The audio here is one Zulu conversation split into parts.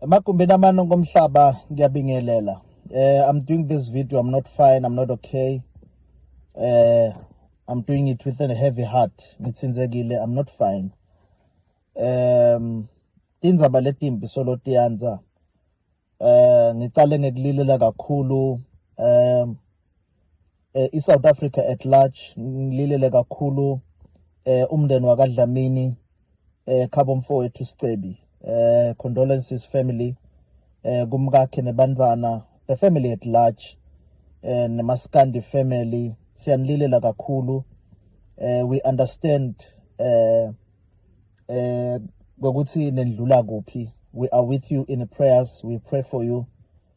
Emagumbini amane ngomhlaba ngiyabingelela. Eh I'm doing this video I'm not fine I'm not okay. Eh I'm doing it with a heavy heart. Ngithinzekile I'm not fine. Um tindzaba letimbi solo tiyanza. Eh ngicale ngekulilela kakhulu. Um eh, i-south africa at large ngililele kakhulu eh, umndeni wakadlamini eh, khabo mfowethu sicebi eh, condolences family eh, kumkakhe nebantwana the family at large eh, nemaskandi family siyanililela kakhulu eh, we understand eh, eh, ngokuthi nendlula kuphi we are with you in prayers we pray for you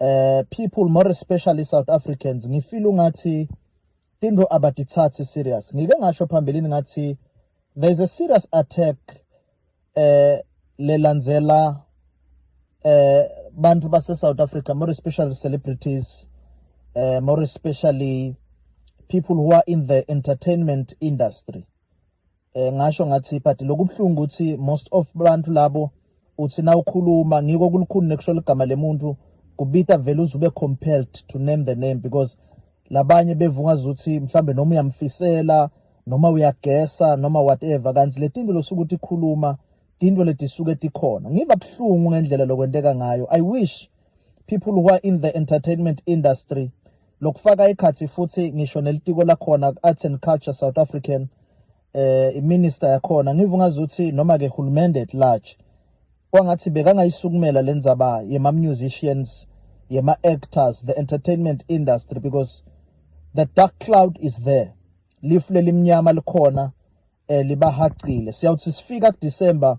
uh, people more especially South Africans ngifeel ungathi into abadithathi serious ngike ngasho phambilini ngathi there is a serious attack eh lelandzela eh bantu base South Africa more especially celebrities eh more especially people who are in the entertainment industry eh ngasho ngathi but lokubuhlungu ukuthi most of abantu labo uthi na ukhuluma ngiko kulukhuni nekusho ligama lemuntu kubita vele uzube compelled to name the name because labanye bevunga ukuthi mhlambe noma uyamfisela noma uyagesa noma whatever kanti letinto losuku ukuthi khuluma tinto letisuke tikhona ngiba buhlungu ngendlela lokwenteka ngayo i wish people who are in the entertainment industry lokufaka ekhathi futhi ngisho nelitiko lakhona Arts and Culture South African eh iminister yakhona ngivu ngazuthi noma ke hulumende at large kwangathi bekangayisukumela lenzaba yema musicians yema actors the entertainment industry because the dark cloud is there lifu lelimnyama likhona eh libahaqile siyawuthi sifika ku December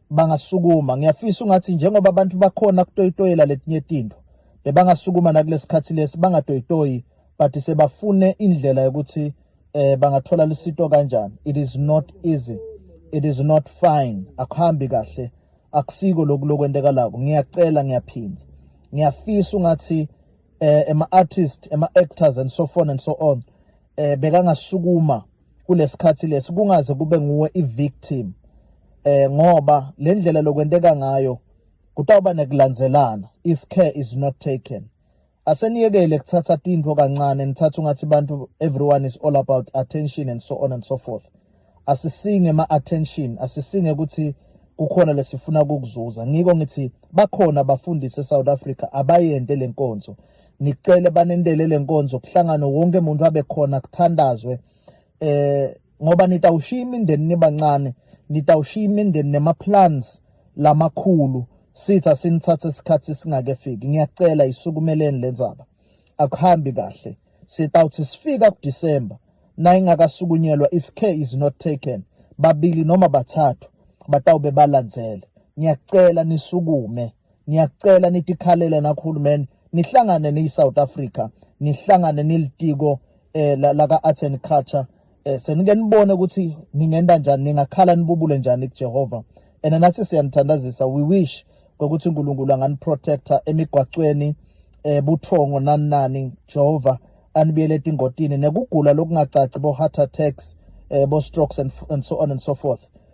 bangasukuma ngiyafisa ungathi njengoba abantu bakhona kutoyitoyela letinye tinto bebangasukuma nakulesikhathi lesi bangatoyitoyi but sebafune indlela yokuthi eh bangathola lisito kanjani it is not easy it is not fine akuhambi kahle akusiko lokhu lokwenteka lako ngiyacela ngiyaphinda ngiyafisa ungathi eh ema artist ema actors and so on and so on eh bekangasukuma kulesikhathi lesi kungaze kube nguwe ivictim eh ngoba le ndlela lokwenteka ngayo kutawuba nekulandzelana if care is not taken aseniyekele kuthatha tintfo kancane nithatha ungathi bantu everyone is all about attention and so on and so forth asisinge ma-attention asisinge ukuthi kukhona lesifuna kukuzuza ngiko ngithi bakhona abafundisi e-south africa abayente le nkonzo ngicele banendele lenkonzo kuhlangane wonke umuntu abe khona kuthandazwe eh ngoba nitawushiya imindeni nibancane nitawushiya imindeni nemaplans lamakhulu sitha sinithathe isikhathi singakefiki ngiyacela isukumeleni lenzaba akuhambi kahle sitawuthi sifika kuDecember nayingakasukunyelwa if care is not taken babili noma bathathu batawube balandzele ngiyacela nisukume Ngiyakucela nitikhalele nakuhulumeni nihlangane niyi-South Africa nihlangane nilitiko eh, laka-Arts and Culture eh, senike nibone ukuthi ningenda njani ningakhala nibubule njani kuJehova and nathi siyanithandazisa we wish ngokuthi uNkulunkulu anganiprotector emigwacweni eh buthongo nani nani Jehova anibiyele etingotini nekugula lokungacaci bo heart attacks eh bo strokes and, and so on and so forth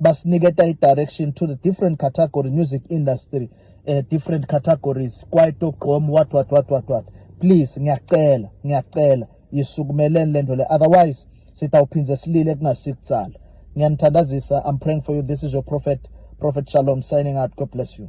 basiniketa i-direction to the different category music industry uh, different categories kwaito gqom what what what what what please ngiyacela ngiyacela yisukumeleni le nto le otherwise sitawuphindze silile kungasikutsala ngiyanithandazisa i'm praying for you this is your prophet prophet shalom signing out god bless you